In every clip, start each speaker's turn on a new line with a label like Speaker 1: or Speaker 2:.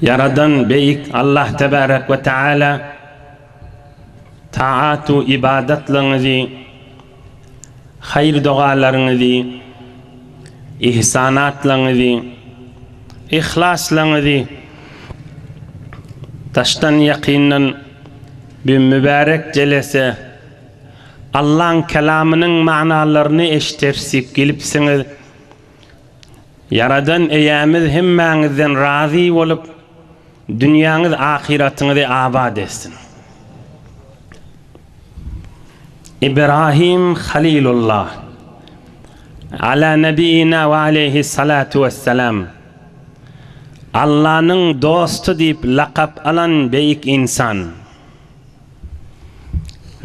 Speaker 1: Ýaradan Beýik Allah Tebärek we Teala taat-u ybadatlaryňyzy, haýyr-dogalaryňyzy, ihsanatlaryňyzy, yhlaslaryňyzy daşdan-ýakyndan bu mübärek jelese, Allaň Kelamynyň manalaryny eşideris diýip gelipsiňiz. Ýaradan Eýämiz hemmäňizden razy bolup, dünýäňiz ahyratyňyzy abat etsin. Ibrahim Halilullah, Ala Nebiyyina we Aleýhi Salatu Wessalam, Allanyň dosty diýip lakap alan beýik ynsan.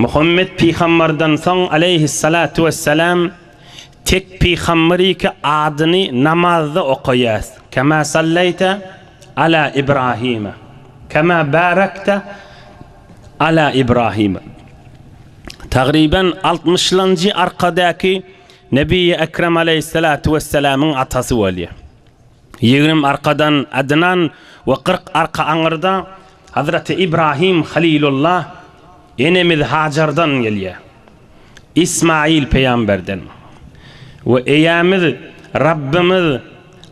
Speaker 1: Muhammet Pygambardan soň Aleýhi Salatu Wessalam, Tek Pygamber iki adyny namazda okaýas, Kema salleýte Ala Ibrahime, Kema barekte Ala Ibrahime. Tagryban altmyşlanjy arkadaky Nebiýi Ekrem Aleýhissalatu Wessalamyň atasy bolýar. Ýigrim arkadan Adnan we kyrk arka aňyrda Hazreti Ibrahim Halilullah enemiz Hajardan gelýär. Ysmaýyl pygamberden, we Eýemiz Rabbimiz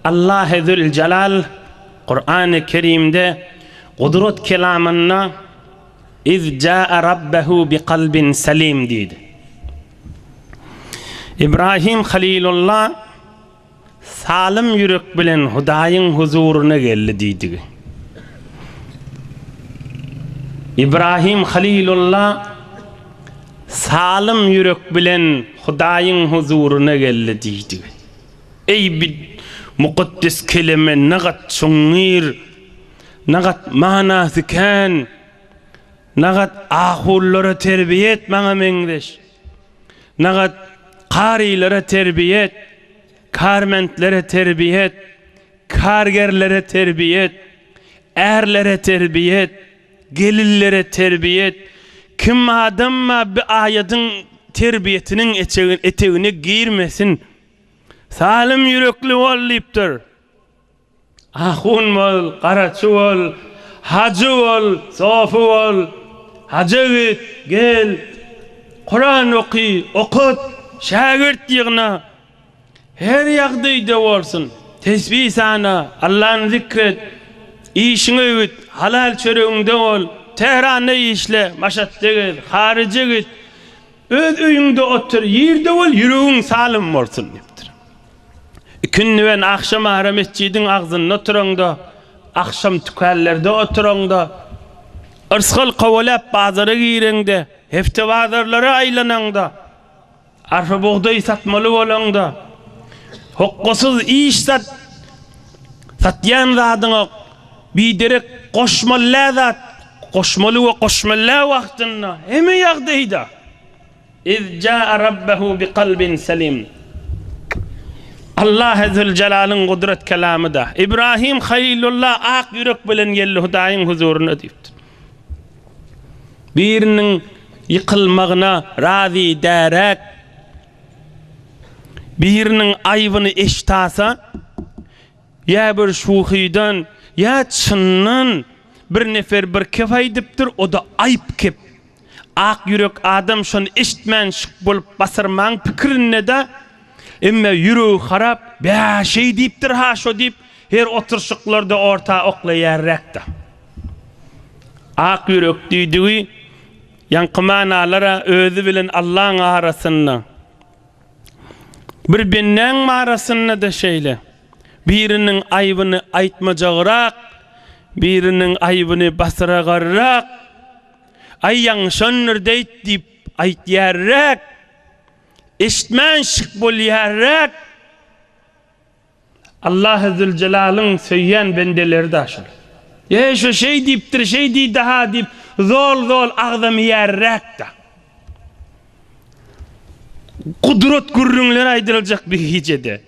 Speaker 1: Allahy Züljelal Kurany Kerimde Gudrat kelamynda Iz jaa Rabbehu bi kalbin salim diýdi. Ibrahim Halilulla Salym ýürek bilen Hudaýyň huzuryna geldi diýdigi. Ibrahim Halilulla salym ýürek bilen Hudaýyň huzuryna geldi diýdigi. Eý bi mukaddes kelime nagat çuňňur, nagat manasy kän, nagat ahullara terbiýe et maňa meňzeş. Nagat, Karylara terbiýet, Kärmentlere terbiýet, Kärgerlere terbiýet, Ärlere terbiýet, Gelinlere terbiýet, Kim adamma bi aýadyň terbiýetiniň etegine girmesin. Salym ýürekli bol diýipdir. Ahun bol, garaçy bol, hajy bol, sofy bol, haja git, gel, Kuran oky, okut, şägirt ýygna, her ýagdaýda bolsun, tesbi sana, Allany zikr et, işiňi öwüt, halal çöregiňde bol, Tähranda işle, Maşatda gez, haryja git, öz öýüňde otur, ýerde bol, ýüregiň salym bolsun diýipdir. Ikindi bilen agşam ara metjidiň agzynda oturaňda, agşam tükänlerde oturaňda, yrsgal kowaläp bazara gireňde, hepde bazarlary aýlanaňda, arpa bugdaý satmaly bolaňda, hokgasyz iş sat, satýan zadyňa biderek goşmallä zat goşmaly we goşmallä wagtynda, hemme ýagdaýda. Iz jaa Rabbahu bi kalbin salim. Allah Ezzülcelalyň gudrat kelamyda, Ibrahim Halylulla ak ýürek bilen geldi Hudaýyň huzuryna diýipdir. Biriniň ýykylmagyna razy däräk, biriniň aýbyny eştasa, ýa bir şuhydan, ýa çyndan bir nefer bir kep aýdypdyr, o-da aýp kep. Ak ýürek adam şony eşitmän şyk bolup basyrmaň pikirinde-dä. Emme ýüregi harap, Bä, şeý diýipdir-ha şo diýip, her oturyşyklarda orta oklaýarräk-de. Ak ýürek diýdigi ýaňky manalar-a özi bilen Allaň arasynda. Bir bendäň marasynda-da şeýle. Biriniň aýbyny aýtmajagrak, biriniň aýbyny basyragarrak. Aý ýaňşandyr deýt diýip aýtýarräk, eşitmän şyk bolýarräk. Allahy Züljelalyn söýýän bendeleri-da şol. Ýeý şu şeý diýipdir, şeý diýdi-ha diýip zol-zol agzamaýarräk-da. Gudrat gürrüňler aýdyljak bir gijede.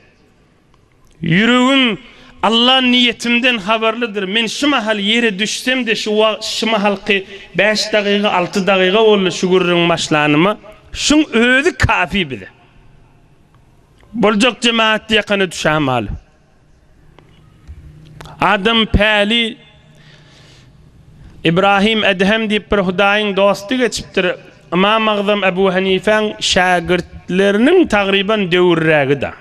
Speaker 1: Ýüregim, Alla niýetimden habarlydyr, men şu mahal ýere düşsem-de, şu wagt, şu mahalky bäş dagyga, alty dagyga boldy şu gürrüň başlanyma, şuň özi kafi bize. Boljak jemagat ýakana düşä malum. Adam päli Ybrahym Edhem diýip bir Hudaýyň dosty geçipdir, Ymam Agzam Ebu Hanifäň şägirtleriniň tagryban döwürrägi-de.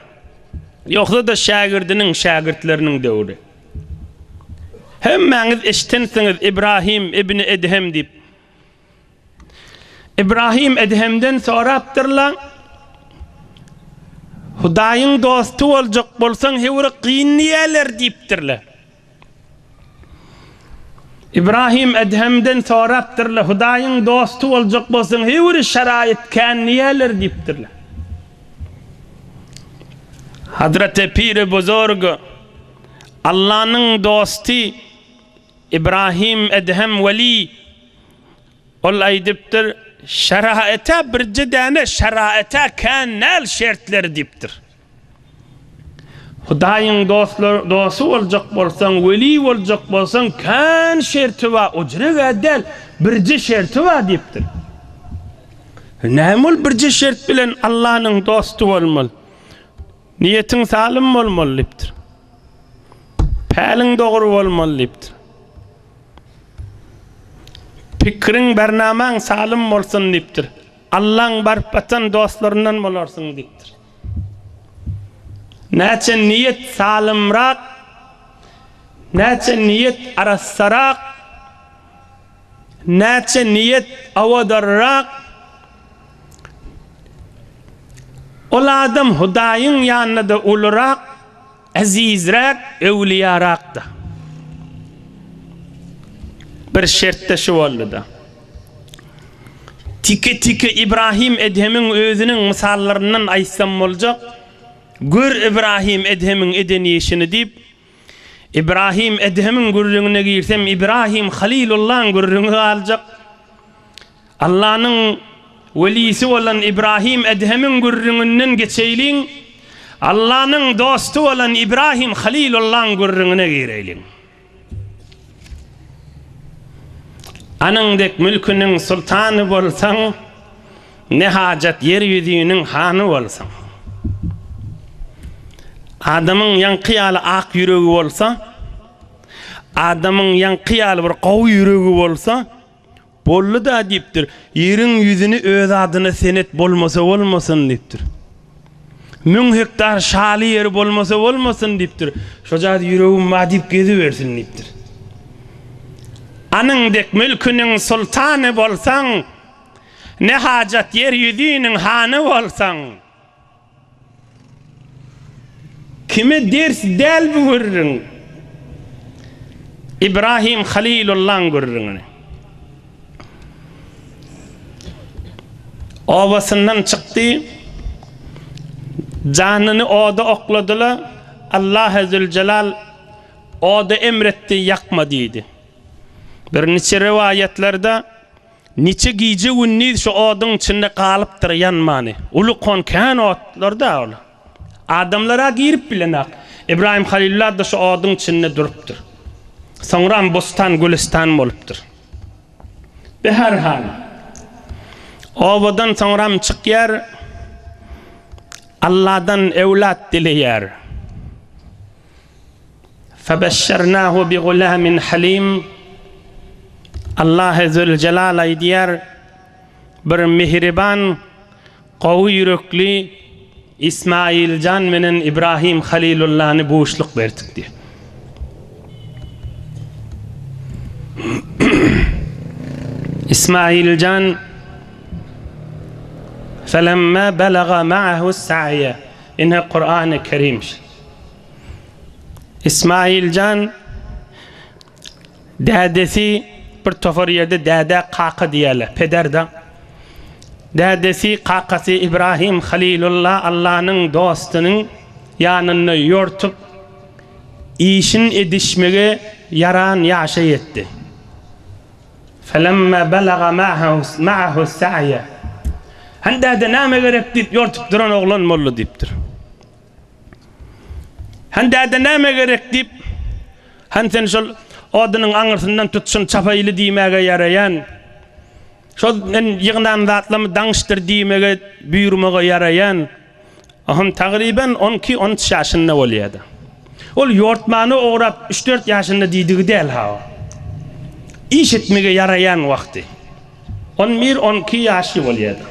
Speaker 1: Ýogsa-da şägirdiniň, şägirtleriniň döwri. Hemmäňiz eşidensiňiz Ibrahim ibni Edhem diýip. Ibrahim Edhemden sorapdyrlar, Hudaýyň dosty boljak bolsaň, höwri gyn diýerler diýipdirler. Ibrahim Edhemden sorapdyrlar, Hudaýyň dosty boljak bolsaň, höwri şaraýat kän niýeler diýipdirler. Hazreti Piri Buzurg, Allanyň dosty Ibrahim Edhem weli, ol aýdypdyr, Şaraýata birje däne şaraýata kän näl şertler diýipdir. Hudaýyň dostlar dosty boljak bolsaň, weli boljak bolsaň, kän şerti bar, o jüregä däl, birje şerti bar diýipdir. Näme ol birje şert bilen Allanyň dosty bolmaly? Niýetiň salym bolmaly diýipdir. Päliň dogry bolmaly diýipdir. Pikiriň, bernamaň salym bolsun diýipdir. Allaň baryp atan dostlaryndan bolarsyň diýipdir. Näçe niýet salymrak, näçe niýet arassarak, näçe niýet owadarrak, ol adam Hudaýyň ýanynda-da ulurak, Ezizräk, öwlüýärakdy. Bir şert-de şu boldy-da, tike-tike Ibrahim Edhemiň özüniň mysallaryndan aýtsam boljak, Gör Ibrahim Edhemiň eden işini diýip, Ibrahim Edhemiň gürrüňine girsem Ibrahim Halilullaň gürrüňi galjak. Allanyň welisi bolan Ibrahim Edhemiň gürrüňinden geçeýliň, Allanyň dosty bolan Ibrahim Halilullaň gürrüňine gireýliň. Anyň dek mülküniň sultany bolsaň, ne hajat ýer ýüzüniň hany bolsaň. Adamyň ýaňky ýaly ak ýüregi bolsa, adamyň ýaňky ýaly bir gowy ýüregi bolsa, Boldy-da diýipdir. Ýeriň ýüzüni öz adyna sen et, bolmasa bolmasyn diýipdir. Müň hektar şaly ýeri bolmasa bolmasyn diýipdir. Şo zady ýüregim bar diýip gezibersin diýipdir. Anyň dek mülküniň soltany bolsaň, ne hajat ýer ýüzüniň hany bolsaň. Kime ders däl bu gürrüň? Ibrahim Halilullaň gürrüňini. Obasyndan çykdy. Janyny oda okladyla, Allahy Züljelal oda emretdi, ýakma diýdi. Bir niçe rowaýatlarda. Niçe gije-gündiz şu oduň içinde galypdyr ýanmany. Uly kon kän otlar-da ol. Adamlar-a girip bilenok. Ybraýym Halylla-da şu oduň içinde durupdyr. Soňram bossan-gülüstan bolupdyr. Behar han obadan soňram çykýar, Alladan öwlat dileýär. Febessernahu bi gulamin halim Allahe Zülcelal aýdýar, Bir mihriban, gowy ýürekli Ismaýyl jan menen Ibrahim Halilullany buşluk berdik diýýär. Ismaýyl jan Felemma belaga ma'ahu saýe. Ine Kur'an-y Kerim. Ismailjan dädesi bir tofar ýerde dädä kaka diýýärler, peder-de. Dädesi, kakasy Ibrahim Halilulla Allanyň dostunyň ýanynda ýortup, işin edişmegi ýaran ýaşa ýetdi. Felemma belaga ma'ahu sa'ýe. Hany däde, näme gerek diýip ýortup duran oglan boldy diýipdir. Han däde näme gerek? diýip, Han sen şol odunyň aňyrsyndan tut, şuny çapaýyly diýmäge ýaraýan. Şol men ýygnan zatlamy daňyşdyr diýmege, buýurmaga ýaraýan. Han tagryban on iki, on üç ýaşynda bolýar-da. Ol ýortmana ograp, üç-dört ýaşynda diýdigi däl-ha o. Iş etmege ýaraýan wagty. On bir, on iki ýaşy bolýar-da.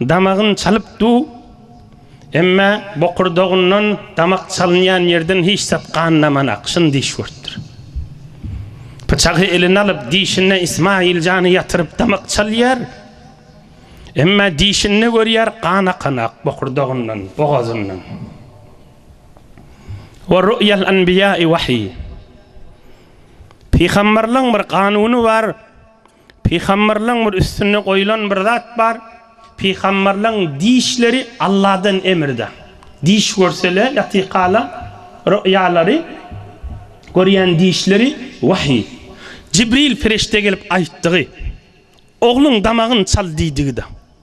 Speaker 1: Damagyn çalyp du, emmä bokurdagyndan damak çalynýan ýerden hiç zat gan daman akşyn diş görüpdir. Pyçagy eline alyp dişinde Ismaýyljany ýatyryp damak çalýar, emmä dişinde görýär gan akan ak bokurdagyndan, bogazyndan. We ruýýal anbiýaý wahyý. Pygamberleň bir ganuny bar. Pygamberleň bir üstünde goýulan bir zat bar, pygamberleň dişleri Alladan emirde. Diş görsele ýa tykala roýalary görýän dişleri wahyý. Jibril perişde gelip aýtdygy, Ogluň damagyn çal diýdigi-de.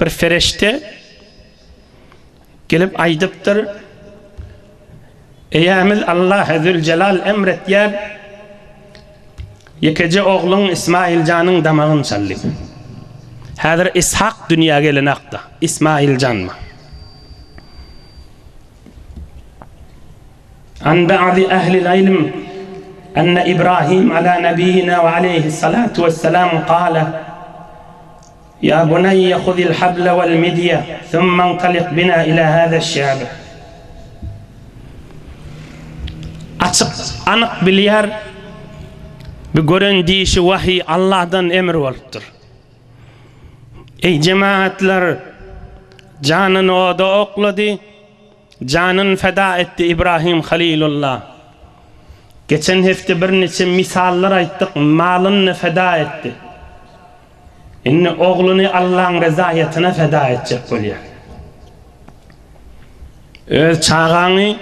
Speaker 1: Bir perişde gelip aýdypdyr, Eýämiz Allahy Züljelal emr etýär, ýekeje ogluň Ismaýiljanyň damagyny çal diýip. Häzir Yshak dünýä geleni hakda, Ismaýiljanmy? An ba'di ehli'l ilm enne İbrahim ala nebiyyina ve aleyhissalatu vesselam kâle Ýa buneýýe huzil habla wal midýe summa intalik bina ila hada şabi. Açyk, anyk bilýär, bu gören diýşi wahyý, Allahdan emr bolupdyr. Eý jemagatlar, janyny oda oklady. Janyn feda etdi Ibrahim Halilulla. Geçen hepde birniçe misallar aýtdyk malyny feda etdi. Indi ogluny Allaň rezaýatyna feda etjek bolýar. Öz çagaňy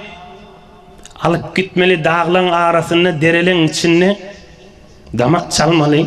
Speaker 1: alyp gitmeli daglaň arasynda dereleň içinde damak çalmaly.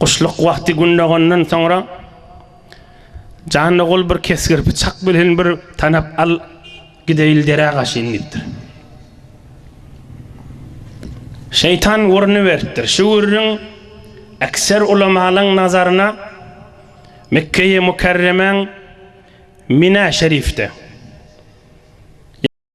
Speaker 1: Guşluk wagty gün dogandan soňra Janogul bir kesgirpi çak bilen bir tanap al gideýil derä gaşyn diýipdir. Şeýtan gürrüni beripdir. Şu gürrüň ekser ulamalaň nazaryna Mekgeýi Mükerremäň Minä şerifde.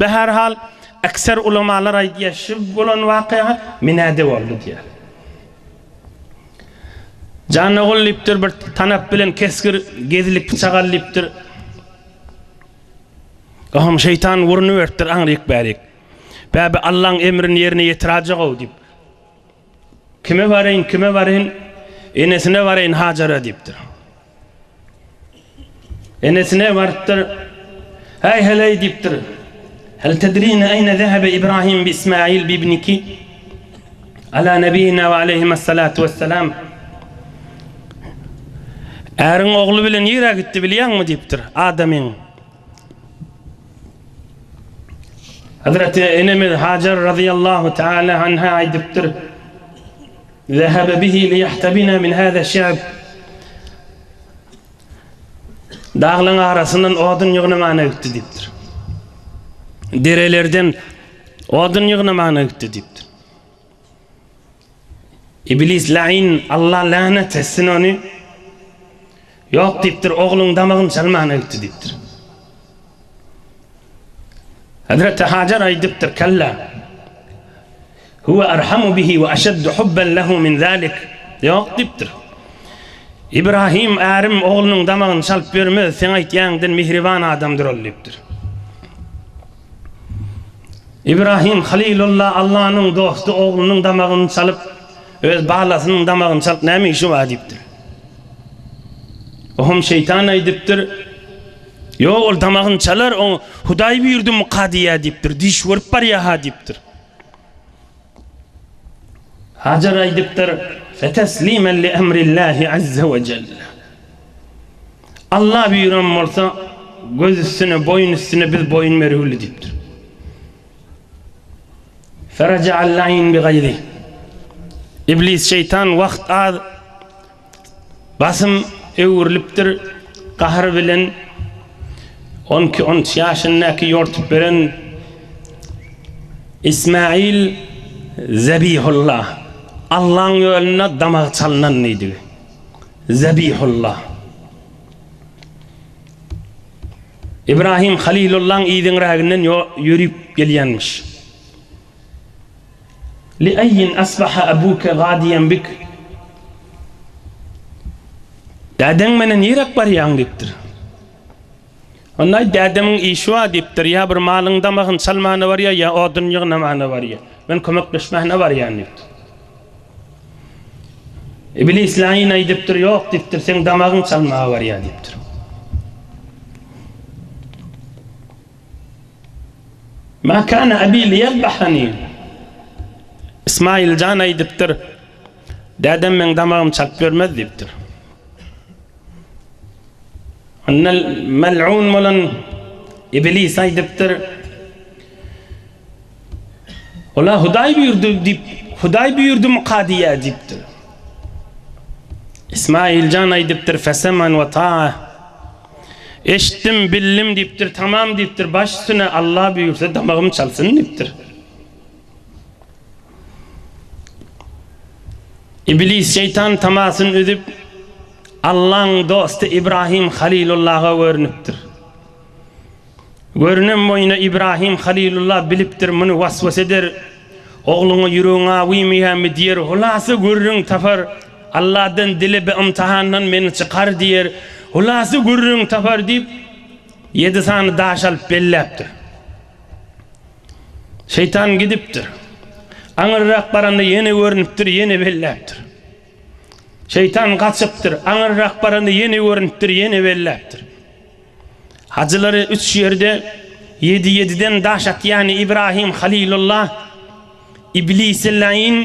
Speaker 1: Be her hal ekser ulamalar aýdýar şu bolan wakya menede boldy diýär. Jan ogul diýipdir bir tanap bilen kesgir gezlik pyçak al diýipdir. Ohm şeýtan urnuberipdir aňryk bärik. Bäbi Allaň emrini ýerine ýetiräjek-ow diýip. Kime baryň, kime baryň? Enesine baryn Hajara diýipdir. Enesine barypdyr. Häý heleý diýipdir. Hel tedrine eýne zehebe Ibrahim bi Ismail bi ibniki? Ala nebiyina we aleyhime salatu vesselam. Äriň ogly bilen nirä gitdi bilýäňmi diýipdir. Adamyň Hazreti enemiz Hajar radiyallahu taala anha aýdypdyr. Zehebe bihi li yahtabina min hada şe'b. Daglaryň arasyndan odun ýygnamana gitdi diýipdir. Derelerden odun ýygnamana gitdi diýipdir. Iblis laýyn, Alla länet etsin ony, Ýok diýipdir, ogluň damagyny çalmana gitdi diýipdir. Hezreti Hajar aýdypdyr, Kella, Huwe erhamu bihi we eşeddu hubben lehu min zalik, Ýok diýipdir. Ibrahim ärim oglunyň damagyny çalyp ýörmez, seň aýtýaňyňdan mihriban adamdyr ol diýipdir. Ibrahim Halilulla Allanyň dosty oglunyň damagyny çalyp, öz balasynyň damagyny çalyp näme işi bar diýipdir. Oňam şeýtan aýdypdyr, Ýok, ol damagyny çalar, oňa Hudaý buýurdymyka diýýär diýipdir, diş görüp barýar-ha diýipdir. Hajar aýdypdyr, Feteslimen li emrillahi azze we celle. Alla buýran bolsa, göz üstüne, boýun üstüne biz boýun bergüli diýipdir. Feraja'al laýn bi gaýzi. Iblis şeýtan wagt az, Basym öwrülipdir gahr bilen on iki on üç ýaşyndaky ýortup beren Ismail Zebihulla Allaň ýolunda damagy çalnan diýdigi Zebihulla Ibrahim Halilullaň yzyňräginden ýörüp gelýänmiş. Li aýin asbaha abuke gadiýen bik? Dädeň meni niräk barýaň? diýipdir. Onda aýt, Dädemiň işi bar diýipdir. Ýa bir malyň damagyny çalmana barýar, ýa odun ýygnamana barýar. Men kömekleşmäne barýan diýipdir. Iblis laýyn aýdypdyr, Ýok diýipdir, seň damagyň çalmaga barýar diýipdir. Ma kana abi liyadbahani. Ismail jan aýdypdyr, Dädem meň damagymy çalyp bermez diýipdir. Onda mel'un bolan Iblis aýdypdyr, Ola Hudaý buýurdy diýip, Hudaý buýurdymy-ka diýýä diýipdir. Ismail jan aýdypdyr, Feseman we ta. Eşitdim, bildim diýipdir, tamam diýipdir, baş üstüne, Alla buýursa damagym çalsyn diýipdir. Iblis şeýtan tamasyny üzüp, Allaň dosty Ibrahim Halilullaha görnüpdir. Görünem boýuna Ibrahim Halylulla bilipdir muny waswas eder, Ogluňa ýüregiň awymyýami diýer, hulasa gürrüň tapar, Alladan dile bi ymtahandan meni çykar diýer, hulasa gürrüň tapar diýip ýedi sany daş alyp belläpdir. Şeýtan gidipdir. Aňyrrak baranda ýene görnüpdir, ýene belläpdir. Şeýtan gaçypdyr, aňyrrak baranda ýene görnüpdir, ýene belläpdir. Hajylary üç ýerde ýedi-ýediden daş atýan Ibrahim Halilulla, Iblisi laýyn,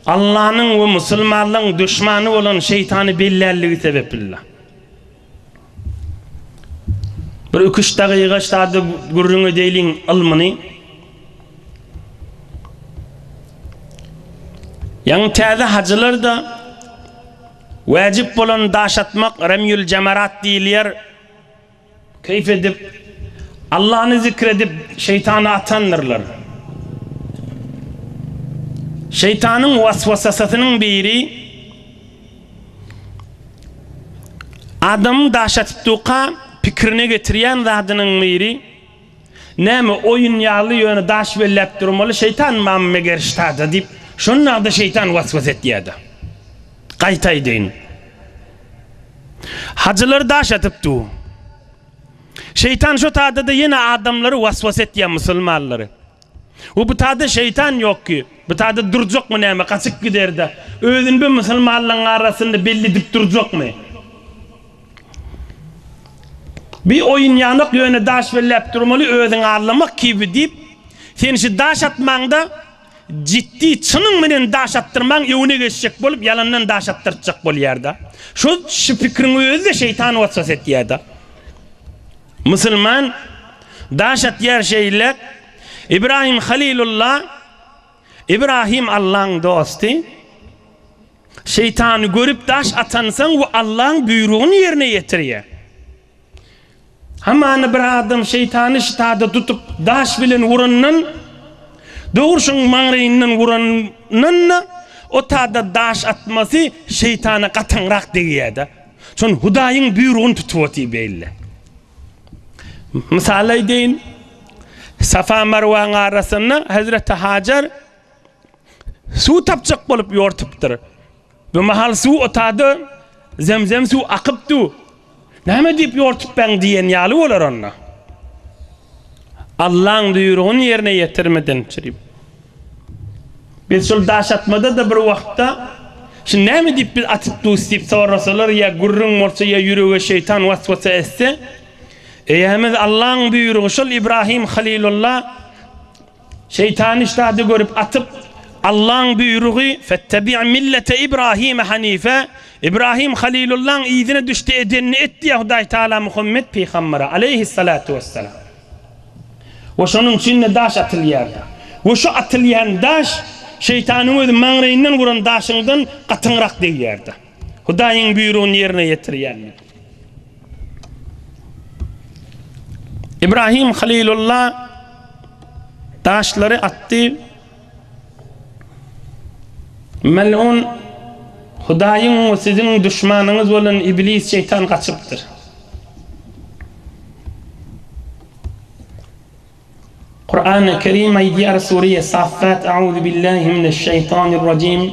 Speaker 1: Allanyň we musulmanlygyň duşmany bolan şeýtany bellänligi sebepli-le. Bir iki-üç dagyga şada gürrüň edeýliň ylmyny. Ýaňy täze hajylar-da. Wäjip bolan daş atmak Remýül Jamarat diýilýär. Keýp edip, Allany zikr edip, şeýtany atandyrlar. Şeýtanyň waswasasynyň biri, adamyň daş atypduka pikirine getirýän zadynyň biri, Näme, oýun ýaly, ýöne daş belläp durmaly, şeýtan mam meger ştada diýip, şonda-da şeýtan was-was etýär-de. Gaýta aýdaýyn. Hajylary daş atyp dur. Şeýtan şo tada-da ýene adamlary was-was etýär, musulmanlary. We bu taýda şeýtan ýok ki, bu taýda durjakmy näme, gaçyp gider-de, özüni bir musulmanlaryň arasynda belli edip durjakmy? Bi oýun ýanok, ýöne daş belläp durmaly, özüňi allamak kibi diýip, sen şu daş atmaňda jiddi çynyň bilen daş atdyrmaň, öňüne geçjek bolup, ýalandan daş atdyrtjak bolýar-da. Şo şu pikriň özi-de şeýtan waswas etýär-de. Musulman daş atýar şeýle, Ibrahim Halilulla, Ibrahim Allaň dosty, şeýtany görüp daş atansoň we Allaň buýrugyny ýerine ýetirýär. Hamana bir adam şeýtany ştada tutup daş bilen urandan, dogurşyň maňraýyndan urandan-da, o tada daş atmasy şeýtana gatyňrak degýärde. Şon Hudaýyň buýrugyny tutup otyr beýle. Mysal aýdaýyn. Safa Marwaň arasynda Hazreti Hajar suw tapjak bolup ýortupdyr. Bu mahal suw otady, zemzem suw akypdy. Näme diýip ýortup ben diýen ýaly bolar onda. Allaň buýrugyny ýerine ýetirmedin çirip. Biz şol daş atmada-da bir wagtda, Şuny näme diýip biz atyp durus? diýip sorasalar ýa gürrüň bolsa ýa ýürege şeýtan was-wasa etse, eýämiz Allaň buýrugy şol Ibrahim Halilulla şeýtany işdäde görüp atyp, Allaň buýrugy, Fettabi' millete Ibrahime hanife, Ibrahim Halilullaň yzyna düş-de edenini et diýýär Hudaý Tagala Muhammet pygambere, aleýhis-salatu wes-selam. We şonuň üçin-de daş atylýardy. We şu atylýan daş Şeýtanyň özi maňraýyndan guran daşyňdan gatyňrak degýärdi. Hudaýyň buýrugyny ýerine ýetirýänlik. Ibrahim Halylulla daşlary atdy. Mel'un Hudaýyň we siziň duşmanyňyz bolan Iblis şeýtan gaçypdyr. Kurany Kerim aýdýar Sureýe Saffat Auzubillahi mineş şeýtanir rajim.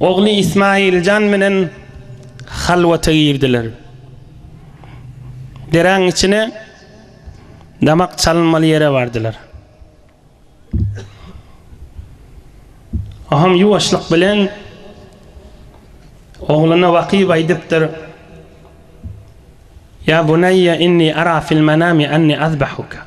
Speaker 1: Ogly Ismailjan bilen halwata girdiler. Deräň içine damak çalynmaly ýere bardylar. Aham ýuwaşlyk bilen ogluna wakyp aýdypdyr, Ýa buneýýe inni ara fil-menami anni azbahuka.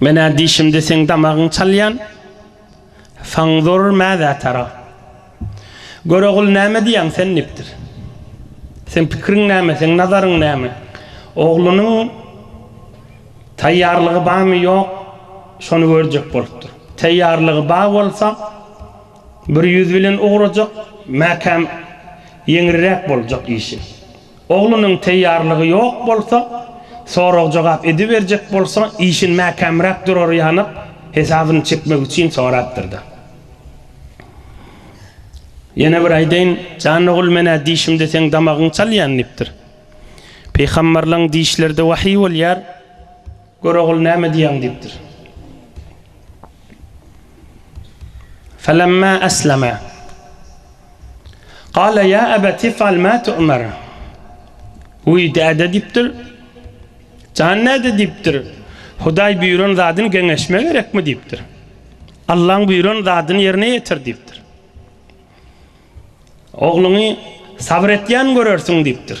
Speaker 1: Men-ä diýşimde seň damagyň çalýan. Fanzur mäzä tara. Görogul näme diýýäň sen dipdir. Seň pikiriň näme, seň nazaryň näme? Oglunyň taýýarlygy bamy ýok, şony görjek bolupdyr. Taýýarlygy bar bolsa, bir ýüz bilen ugrajak, mäkäm ýeňriräk boljak işi. Oglunyň teýýarlygy ýok bolsa, sorag-jogap ediberjek bolsa, işin mäkämräk durary ýanyk, hesabyny çekmek üçin sorapdyr-da. Ýene bir aýdaýyn, jan ogul, men-ä dişimde seň damagyňy çalýan diýipdir. Pygamberleň dişleri-de wahyý bolýar. Gör ogul näme diýýäň diýipdir. Felemma eslema. Gale ýa ebet ifal ma tu'mer. Wiý däde diýipdir. Jan däde diýipdir. Hudaý buýran zadyny geňeşme gerekmi diýipdir. Allaň buýran zadyny ýerine ýetir diýipdir. Ogluňy sabyr etýän görersiň diýipdir.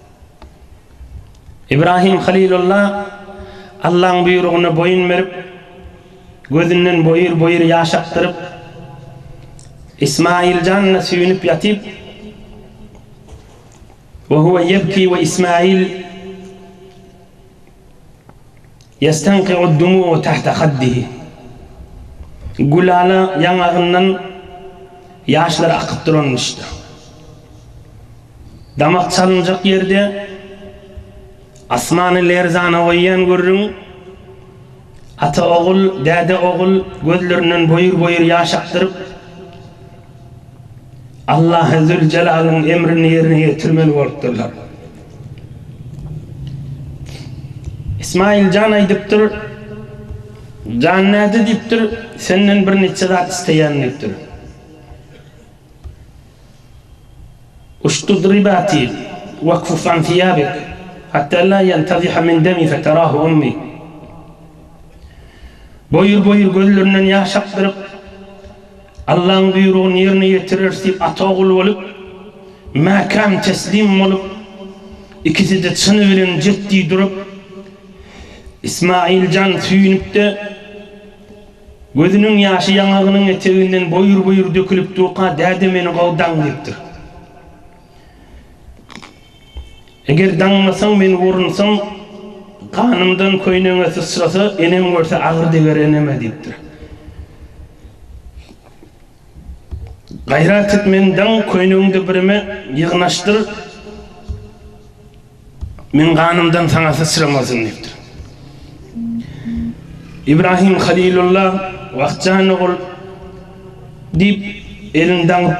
Speaker 1: Ibrahim Halilulla Allaň buýrugyna boýun berip, gözünden boýur-boýur ýaş akdyryp, Ismaýyl janyna süýnüp ýatyp, we huwe ýebki we Ismaýyl Ýestanki'ud-dumu'u tahta haddihi. Gülala ýaňagyndan ýaşlary akyp duranmyşdy. Damak çalynjak ýerde asmany lerzana goýýan gürrüň, ata-ogul, däde-ogul gözlerinden boýur-boýur ýaş akdyryp, Allahy Züljelalyn emrini ýerine ýetirmeli bolupdyrlar. Ismaýyl jan aýdypdyr, Jan näde diýipdir, senden bir neçe zat isleýän diýipdir. Uşdud ribati wakuff an siýabik hatta la ýantaziha min demi feterahu ummi. Boýur-boýur gözlerinden ýaş akdyryp, Allaň buýrugyny ýerine ýetireris diýip ata-ogul bolup, mäkäm teslim bolup, ikisi-de çyny bilen jetdi durup, Ismaýyl jan süýnüp-de, gözüniň ýaşy ýaňagynyň eteginden boýur-boýur dökülip durka, Däde meni gowdaň diýipdir. Eger daňmasaň meni borunsam, ganymdan köýnegiňe syçrasa, enem görse agyr deger eneme, diýipdir. Gaýrat et, meni daň, köýnegiňde birime ýygnaşdyr, meň ganymdan saňa syçramasyn, diýipdir. Ibrahim Halilulla, Wah, jan ogul, diýip, elini daňyp,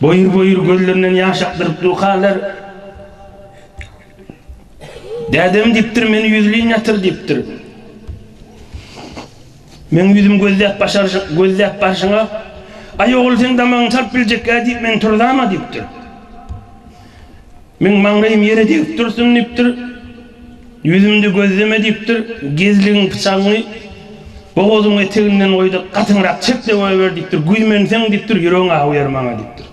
Speaker 1: Boýur-boýur gözlerinden ýaş akdyryp durkalar. Dädem diýipdir, meni ýüzleýin ýatyr diýipdir. Meň ýüzüm gözläp başaryşyň, gözläp barşyňa, Aý ogul seň damagyňy salyp biljek-ä diýip men turzam-a diýipdir. Meň maňlaýym ýere degip dursun diýipdir. Ýüzümde gözleme diýipdir. Gezligiň pyçagyňy bogazyň eteginden goý-da, gatyňrak çek döwäber diýipdir. Güýmenseň diýipdir, ýüregiň awýar maňa diýipdir.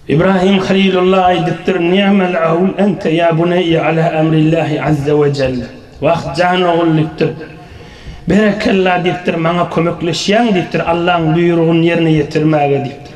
Speaker 1: Ibrahim Halilulla aýdypdyr, Ni'mal awl ente ýa buneýe ala amrillahi azze we jell. Wah, jan ogul diýipdir. Berekella diýipdir, maňa kömekleşýäň diýipdir, Allaň buýrugyny ýerine ýetirmäge diýipdir.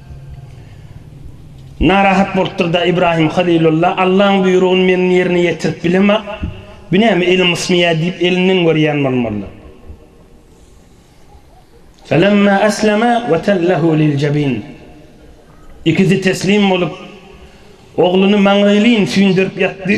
Speaker 1: Narahat bolupdyr-da Ibrahim Halylulla, Allaň buýrugyny men ýerine ýetirip bilemok, bu näme elim ysmaýar diýip elinden görýän bolmalydyr. Felemma eslema we tellehu liljebin. Ikisi teslim bolup, ogluny maňlaýlyn süýndürip ýatdy.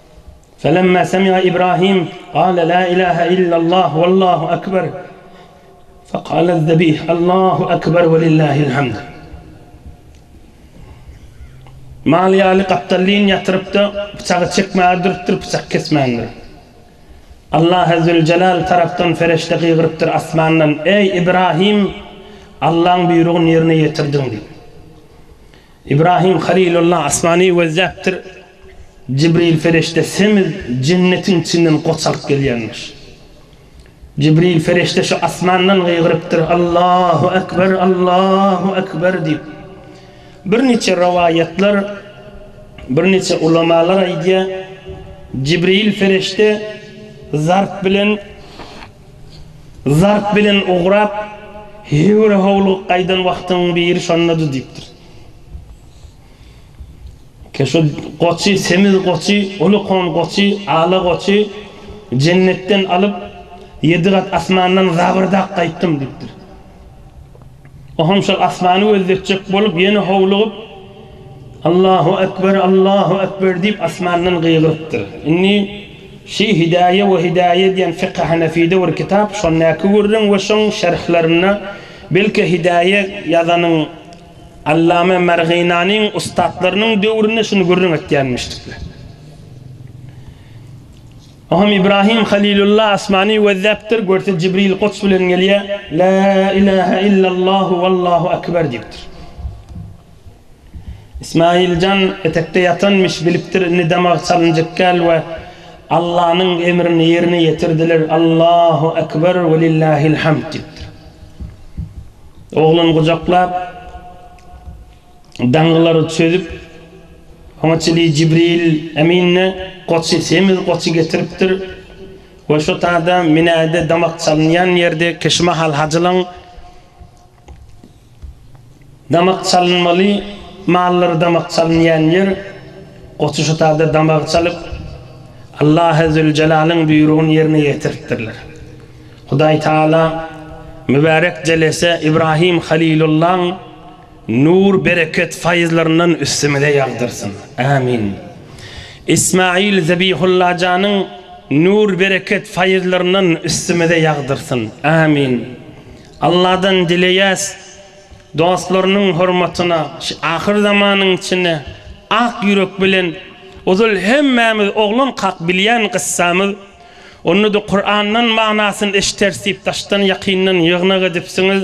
Speaker 1: Felemma semi'a Ibrahim gale la ilahe illallah wallahu ekber fekale zebih Allahu ekber velillahil hamd. Mal ýaly gapdallyn ýatyrypda pyçagy çekmäge durupdyr pyçak kesmändir. Allahy züljelal tarapdan fereşde gygyrypdyr asmandan eý Ibrahim Allaň buýrugyn ýerine ýetirdiň diýip. Ibrahim Halilullah asmany gözläpdir. Jibril Fereşde semiz jennetiň içinden goç alyp gelýänmiş. Jibril Fereşde şu asmandan gygyrypdyr, Allahu Ekber, Allahu Ekber diýip. Birniçe rowaýatlar, birniçe ulamalar aýdýar, Jibril Fereşde zarp bilen zarp bilen ugrap, höwür-howlugyk gaýdan wagtyň biri şondady diýipdir. Keşut goçy, semiz goçy, uly kon goçy, ala goçy Jennetden alyp, ýedi gat asmandan zabyrdap gaýtdym diýipdir. Oňam şol asmany gözletjek bolup, ýene howlugyp, Allahu ekber, Allahu ekber diýip, asmandan gygyrypdyr. Indi Şi Hidaýe we Hidaýe diýen Fiki Hanefide bir kitap, şondaky gürrüň we şoň şerhlerinde, belki Hidaýe ýazanyň Allama Marginanyň ussatlarynyň döwründe şuny gürrüň etýänmişdikler. O hem Ibrahim Halilulla asmany gözläpdir, görse Jibril goç bilen gelýär, La ilahe illallahu wallahu ekber diýipdir. Ismail jan etekde ýatanmyş, bilipdir indi damag çalynjykkäl we Allanyň emrini ýerine ýetirdiler, Allahu ekber welillahil hamd diýipdir. Oglan gujaklap, daňylary çözüp, oňa çili Jibril Emin-de goçy, semiz goçy getiripdir we şo tada minäýde damak çalynýan ýerde kişi mahal hajylaň damak çalynmaly mallary damak çalynýan ýer, goçy şo tada damagy çalyp, Allahy Züljelalyn buýrugyny ýerine ýetiripdirler. Hudaý Taala mübärek jelese Ibrahim Halilullaň nur, bereket, faýyzlaryndan üstümize ýagdyrsyn. Ämin. Ismail Zebihullajanyň nur, bereket, faýyzlaryndan üstümize ýagdyrsyn. Ämin. Alladan dileýäs, dostlarynyň hormatyna şu ahyr zamanyň içinde ak ýürek bilen ozal hemmämiz oglankak bilýän gyssamyz Onda-da Kurandan manasyny eşiteris diýip daşdan ýakyndan ýygnak edipsiňiz.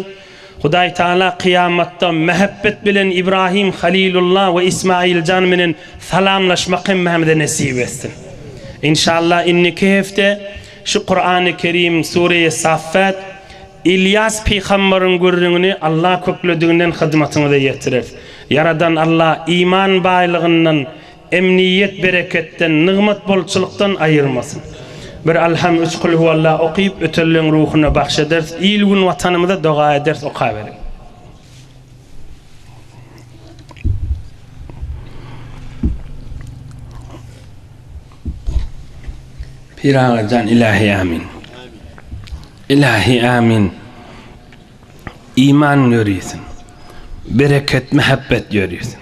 Speaker 1: Hudaý Tagala kyýamatda mähebbet bilen Ibrahim Halilulla we Ismailjan menen salamlaşmak hemmämize nesip etsin. Inşallah indiki hepde şu Kurany Kerim Sureýi Saffat Ylýas pygambaryň gürrüňini Allah köklediginden hyzmatyňyza ýetireris. Ýaradan Allah iman baýlygyndan, Emniýet bereketden, nygmat bolçulykdan aýyrmasyn. Bir Alham üç Kulhuwalla okyp ötelleň ruhuna bagş ederis il gün watanymyza doga ederis okaberiň. Pyragyjan ilahi amin. Ilahi amin. Iman ýörisin. Bereket mehebbet ýörisin.